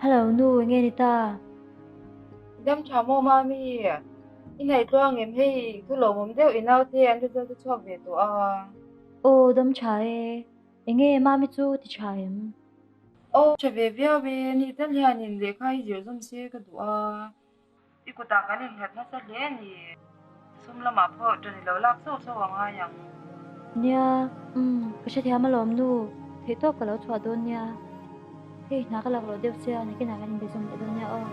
Hello nu nge ni ta. Dam tha mo ma mi i nai tluang em hei thu lo mom deuh i nau te an ri zau te chhuak ve tawh a. Aw dam tha e, enge ma mi chu ti tha em? Aw, ṭha ve viau e, ni tal hianin lehkha hi zirhzawm se ka duh a, i kutah kan inhlat nasa hle a ni. Sum lamah pawh ṭan i lo lak chauh chauh a ngai ang. Nia, Umm, ka hrethiam alawm nu, theihtawp ka lo chhuah dawn nia, hei hna ka lak rawh deuh sia, nikinah kan inbe zawm leh dawn nia aw.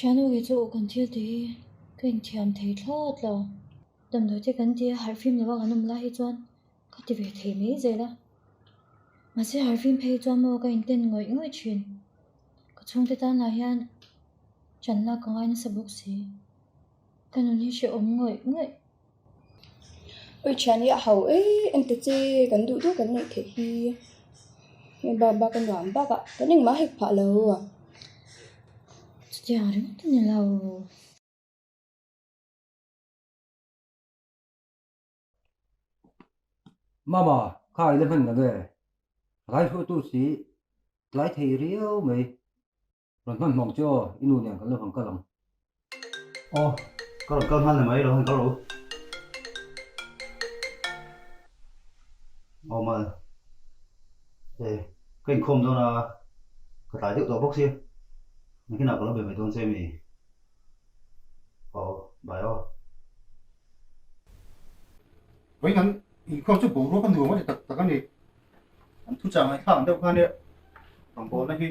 Thianu hi chu kan thil ti hi ka inthiam thei thlawt lo. Damdawi te kan ti a harh fim lo a kan awm lai hi chuan ka ti ve thei mai zel a. Mahse harh fim phei hi chuan maw ka inten ngawih ngawih thin. Ka chhungte tan lah hian chan lak ka ngai nasa bawk si. Ka nun hi hre awm ngawih ngawih. Ui thian hi a hau ei engte che kan duh duh kan neih theih hi hei bak bak a nuam bak a kan engmah hek phah lo a. Chuti ang ringawt a ni lo. Mama, kha i la hman lo e. Raihruatu si tlai thei riau mai. Rawn hman hmawk chu aw, i nu nen kan lo han kal ang. Aw, ka rawn kal hman emaw i lo han kal u. Aw ma, e, ka inkhawm dawn a, ka tlai deuh tawh bawk si. Enghinah ka lo be ve dawn che emi? Aw, bai aw. Vawiin an inkhawm chu boruak a nuam ngawt e tak tak a ni. An thuchang an thlak ang deuh khan nia, bang bawlna hi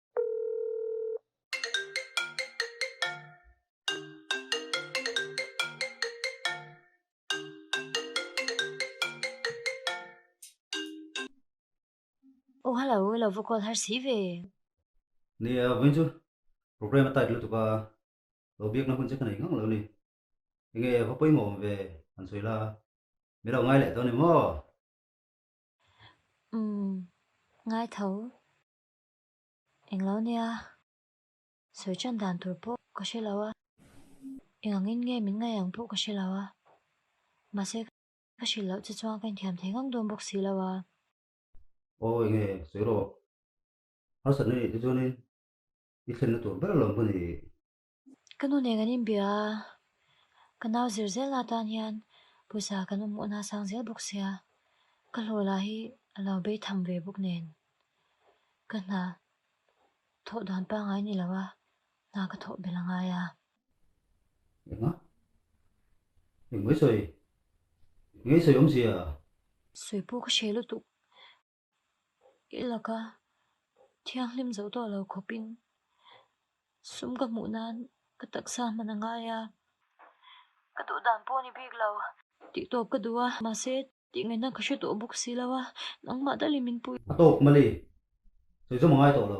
Oh hello, i lo va call har si ve. Ni a vawiin chu program a tight lutuk a, lo biakna hun che ka nei ngang lo ni. Enge va pawimawh awm ve han sawi la, min lo ngai leh tawh a ni maw? Umm, ngai tho. Englo nia, sawi chan dan tur pawh ka hre lo a, engangin nge min ngaih ang pawh ka hre lo a, mahse ka hrilh loh che chuan ka inthiam thei ngang dawn bawk si lo a. Aw eng nge, sawi rawh, harsatna nih te chuanin i thlenna tur ber lo maw ni? Ka nu nen kan inbia a, ka nau zir zelna atan hian pawisa kan awm awhna a sang zel bawk sia, ka hlaw lah hi a lo bei tham ve bawk nen ka hna thawh dan pangai ni lo a, hna ka thawh belh a ngai a. Engmah? Engmah i sawi? Engmah i sawi awmzia? Sawi pawh ka hre lutuk. I laka thianghlim zoh tawh lo khawpin sum ka hmuh nan ka taksa hman a ngai a. Ka duh dan pawh a ni bik lo. Tih tawp ka duh a, mahse tih ngaih nan ka hre tawh bawk si lo a, nangmah dal in min puh i. A tawp Mali, sawi zawm a ngai tawh lo.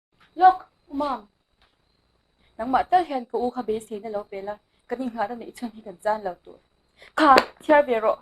Lawk, u mam. Nangmah tal hian ka u kha be sei na lo pe la, ka ni nghah ta neih chuan hi kan zan lo tur. Kha, thiar ve rawh.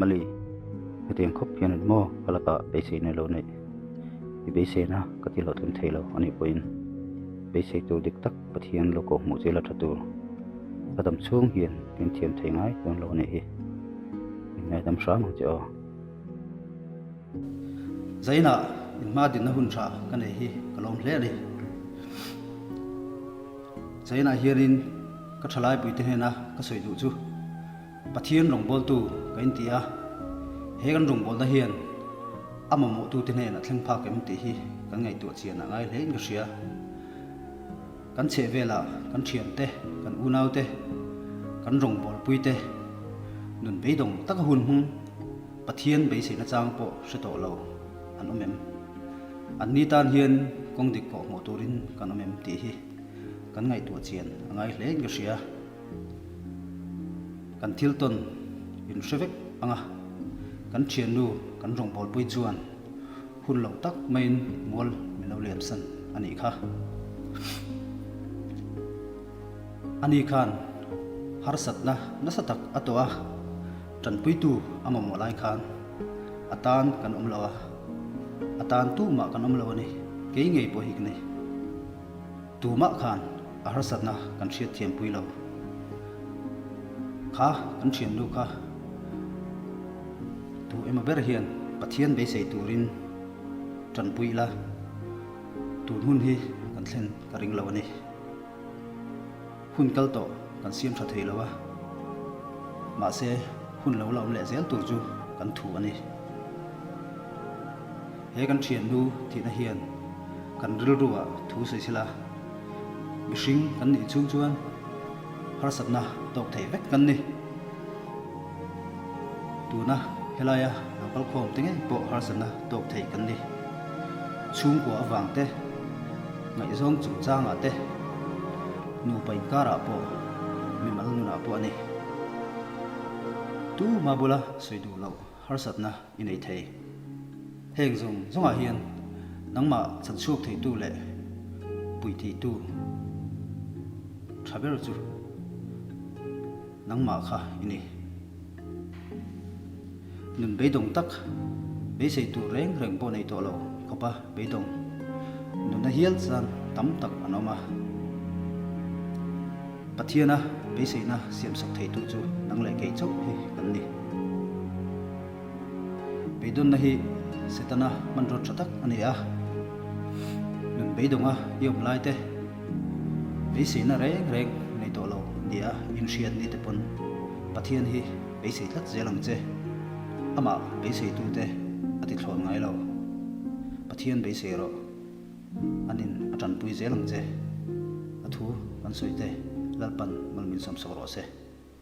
mali hetiang khawp hian an maw ka laka beisei nei lo nei i beisei na ka ti hlawh tlem thei lo a nih pawhin beisei tur dik tak pathian lawko hmuh chel a tha tur ka dam chhung hian min thiam thei ngai dawn lo a nih hi min ngaidam hram ang che aw. Zainah in hma dinna hun tha ka nei hi ka lawm hle a ni. Zainah hianin ka tha laipui te hnena ka sawi duh chu Pathian rawngbawltu ka in ti a, he kan rawngbawlna hian a mamawhtute hnenah thleng phak em tih hi kan ngaihtuah chian ah ngai hlein ka hria. Kan chhehvelah kan thiante, kan unaute, kan rawngbawlpuite nun beidawng taka hun hmung, Pathian beiseina chang pawh hre tawh lo an awm em? An ni tan hian kawng dik kawh hmuh turin kan awm em tih hi kan ngaihtuah chian a ngai hle nge hria? Kan thil tawn in hre vek ang a, kan thiannu kan rawngbawlpui chuan hun loh tak maiin mual min lo lemsan a nih kha. Ani khan harsatna nasa tak a tawh a. Tanpuitu a mamawh lai khan a tan kan awm lo a, a tan tumah kan awm lo a ni. Kei ngei pawh hi ka ni. Tumah khan a harsatna kan hriatthiam pui lo. Kha kan thiannu kha duh emaw ber hian Pathian beisei turin tanpui ila, tun hun hi kan thlen ka ring lo a ni. Hun kal tawh kan siam tha thei lo a, mahse hun lo la awm leh zel tur chu kan thu a ni. He kan thiannu thihna hian kan rilruah thu sawi sila, mihring kan nih chung chuan harsatna tawk theih vek kan ni. Tuna helaia lo kal khawm te ngei pawh harsatna tawk thei kan ni. Chhungkua avang te, ngaihzawng chungchangah te, nupa inkarah pawh, mimal nunah pawh a ni. Tu hma bula sawi duh loh harsatna i nei thei. Heng zawng zawngah hian nangmah chanchhuak theitu leh puiteitu tha ber chu. Nangmah kha i ni. Nun beidawng tak, beisei tur reng reng pawh nei tawh lo i khawp a, beidawng nun a hial chang tam tak an awm a. Pathiana beiseina siamsak theitu chu nang leh kei chauh hi kan ni. Beidawnna hi Setana hmanraw tha tak a ni a. Nun beidawnga i awm lai te. Beiseina reng reng nei tawh lo nia inhriat mi te pawn Pathian hi beisei tlat zel ang che. Amah beiseitute a tithlawn ngai lo. Pathian beisei rawh an in a tanpui zel ang che. A thu kan sawi te lalpan malmin sawmsak rawh se.